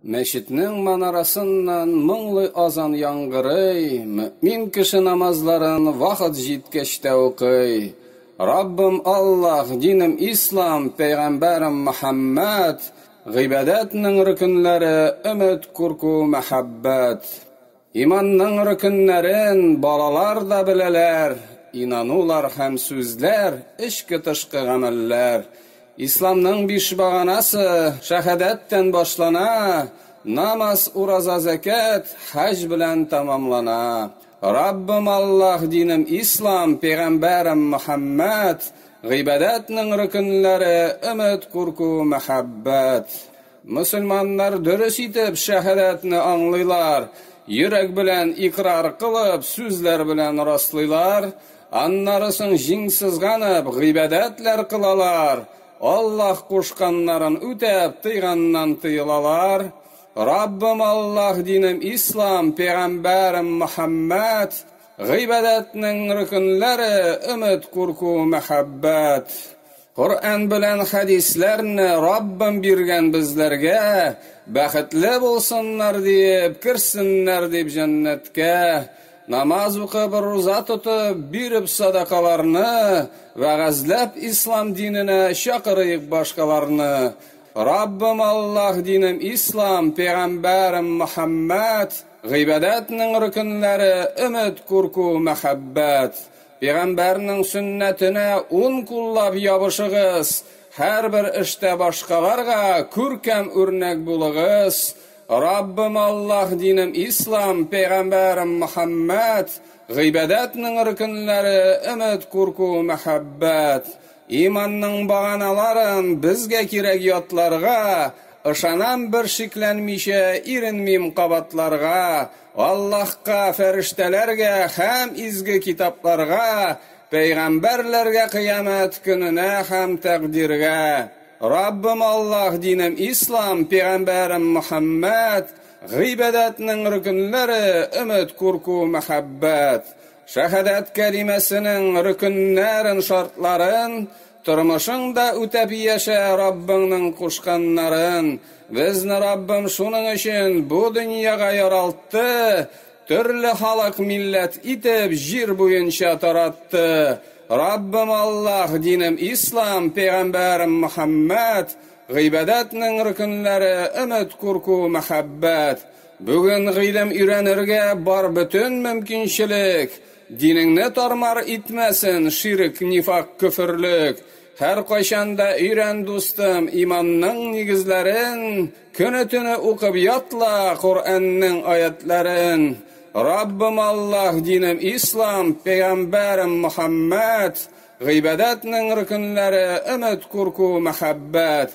Мәчетнең манарасыннан моңлы азан яңгырый, мөэмин кеше намазларын вакыт җиткәч тә укый. Раббым Аллаһ, динем Ислам, пәйгамбәрем Мөхәммәд, гыйбадәтнең рөкенләре, өмет, курку, мәхәббәт. Иманның рөкеннәрен балалар да беләләр, инанулар һәм сүзләр, эчке-тышкы гамәлләр. Исламның биш баганасы, шәһадәт тән башлана, намаз, ураза, зәкят, хаҗ белән тәмамлана. Раббым Аллаһ, динем Ислам, пәйгамбәрем Мөхәммәд, гыйбадәтнең рөкеннәре, өмет, курку, мәхәббәт. Мөселманнар дөрес итеп шәһәдәтне аңлыйлар, йөрәк белән икърар кылып, сүзләр белән раслыйлар, аннары соң җиң сызганып, гыйбадәтләр кылалар, Аллаһ кушканнарын үтәп, тыйганнан тыелалар. Раббым Аллаһ, динем Ислам, пәйгамбәрем Мөхәммәд, гыйбадәтнең рөкенләре, өмет, курку, мәхәббәт. Коръән белән хәдисләрне Раббым биргән безләргә, бәхетле булсыннар диеп, керсеннәр дип җәннәткә, намаз укып, руза тотып, биреп садакаларны, вәгазьләп ислам диненә чакырыйк башкаларны. Раббым Аллаһ динем ислам, пәйгамбәрем Мөхәммәд, гыйбадәтнең рөкенләре, өмет, курку, мәхәббәт. Пигамбәрнең сөннәтенә ун куллап ябышыгыз, һәрбер эштә башкаларга күркәм үрнәк булыгыз, Раббым Аллаһ, динем Ислам, пигамбәрем Мөхәммәд, гыйбадәтнең рөкенләре, өмет, курку, мәхәббәт, иманның баганаларын безгә кирәк ятларга, ышанам бершикләнмичә, иренмим кабатларга, Аллаһка, фәрештәләргә һәм изге китапларга, пәйгамбәрләргә кыямәт көненә һәм тәкъдиргә, Раббым Аллаһ, динем Ислам, пигамбәрем Мөхәммәд, гыйбадәтнең рөкенләре, өмет, курку, мәхәббәт, шәһадәт кәлимәсенең рөкеннәрен, шартларын, Тормышыңда үтәп яшә Раббыңның кушканнарын, безне Раббым шуның өчен бу дөньяга яралтты, төрле халык милләт итеп җир буенча таратты, Раббым Аллаһ, динем Ислам, пәйгамбәрем Мөхәммәд, гыйбадәтнең рөкенләре, өмет, курку, мәхәббәт. Бүген гыйлем өйрәнергә бар бөтен мөмкинчелек. Динеңне тармар итмәсен ширек, нифак, көферлек. Һәркайчан да өйрән, дустым, иманның нигезләрен, көне-төне укып ятла Коръәннең аятьләрен. Раббым Аллаһ, динем Ислам, пәйгамбәрем Мөхәммәд, гыйбадәтнең рөкенләре, өмет, курку, мәхәббәт.